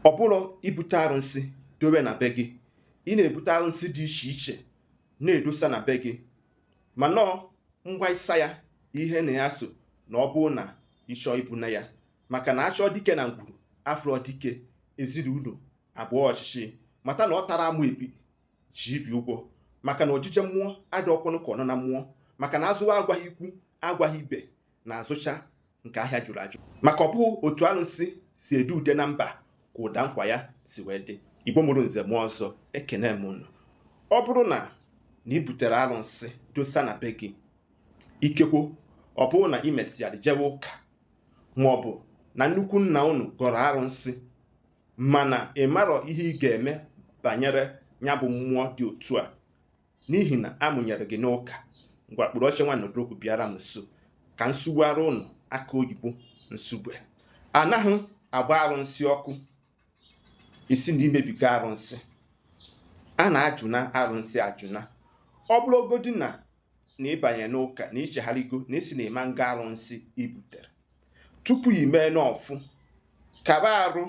ọ bụrọ ibute arụsị dowe na be gị ị na-ebute arụsị dị iche iche na-edosa na be gị ma nọọ mgba ịsa ya ihe na ya so na ọ bụrụ na ị chọọ ibuna ya maka na achọọ dike na ngwuru afụrọ dike ezinụlọ abụọ ọchịchị mata na ọ tara amụ ebi ji ibi ụgwọ maka na ojije mmụọ adịrọkwanụ ka ọnana mmụọ maka na azụwa agwaghị ikwu agwaghị ibe na-azụcha nke ahịa jụrụ ajụ maka ọ bụghị otu arụsị si ede ude na mba ka ụda nkwa ya si wee dị igbo mụrụ nze mụọ ọzọ ekene m unu ọ bụrụ na na ị butere arụsị dosa na be gị ikekwo ọ bụrụ na ị mesịara jewe ụka ma ọ bụ na nnukwu nna unu gọrọ arụsị mana ị marọ ihe ị ga-eme banyere ya bụ mmụọ dị otu a n'ihi na amụnyere gị n'ụka ngwa kpụrụ oche nwa nọdụrụkwu bịara m nso ka m sụgbuara ụnụ aka oyibo nsugbe anaghị agba arụnsị ọkụ ị sị na i mebiga arụnsị a na-ajụna arụnsị ajụna ọ bụrụgodị na na ị banye n'ụka na i chegharịgo na ị sị na ị ma nga arụnsị i butere tupu i mee n'ọfụ kaba arụ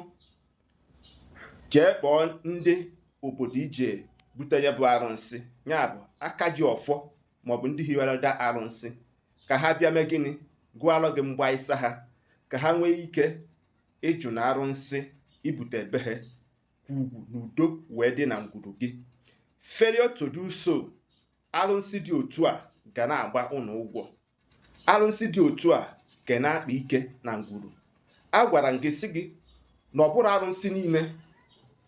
jee kpọọ ndị obodo i je bute ya bụ arụsị ya bụ aka ji ọfọ maọbụ ndị hiwere da arụsị ka ha bịa mee gịnị gụọrọ gị mgba ịsa ha ka ha nwee ike ịjụna arụsị i bute ebe ha ka ugwu na udo wee dị na ngwuru gị failure to do so arụsị dị otu a ga na-agba ụnụ ụgwọ arụsị dị otu a ga na-akpa ike na ngwuru agwara m gị sị gị na ọ bụrọ arụsị niile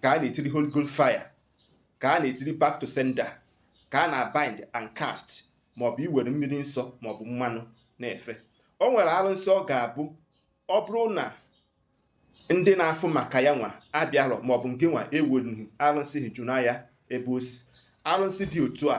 ka a na-etiri Holy Ghost fire ka a na-etiri back to sender ka a na-bind and cast maọbụ i were mmiri nsọ maọbụ mmanụ na-efe o nwere arụsị ọ ga-abụ ọ bụrụ na ndị na-afụ maka ya nwa abịarọ maọbụ ngị nwa eweghị arụsị ahụ jụna ya ebe o si arụsị dị otu a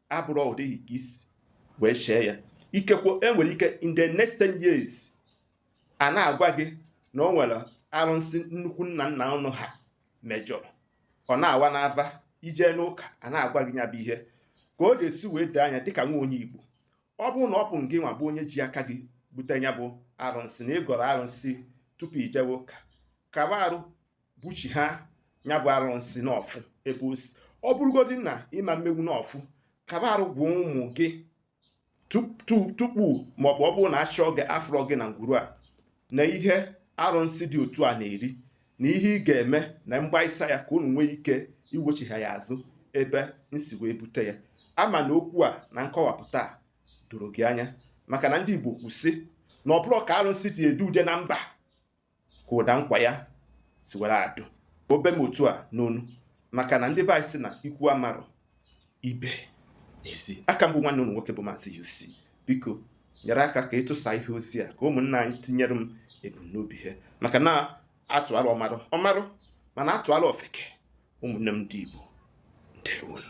abụrụ ọ dịghị ka i si wee chee ya ikekwe e nwere ike in the next 10 years a na-agwa gị na o nwere arụsị nnukwu nna nna ụnụ ha mejọrọ ọ na-awa n'ava i jee n'ụka a na-agwa gị ya bụ ihe ka ọ ga-esi wee doo anya dịka nwa onye igbo ọ bụrụ na ọ bụ gị nwa bụ onye ji aka gị bute ya bụ arụsị na ị gọrọ arụsị tupu i jewe ụka kaba arụ buchiha ya bụ arụsị n'ọfụ ebe o si ọ bụrụgodị na ị ma-emenwu n'ọfụ kaba arụ gwa ụmụ gị tupu maọbụ ọ bụrụ na achọọ gị afụrọ gị na ngwuru a na ihe arụsị dị otu a na-eri na ihe ị ga-eme na mgba ịsa ya ka unu nwee ike iwechiha ya azụ ebe m si wee bute ya ama m na okwu a na nkọwapụta doro gị anya maka na ndị Igbo kwuru sị na ọ bụrọ ka arụsị si ede ude na mba ka ụda nkwa ya si were ada o be m otu a n'ọnụ maka na ndị be anyị sị na ikwu amarọ ibe ezi a ka m bụ nwanne unu nwoke bụ maazị UC biko nyere aka ka ị tụsa ihe ozi a ka ụmụnna anyị tinyere m ebumnobi ha maka na a tụalụ ọmarụ ọ marụ mana a tụalụ ofeke ụmụnne m ndị Igbo ndewonụ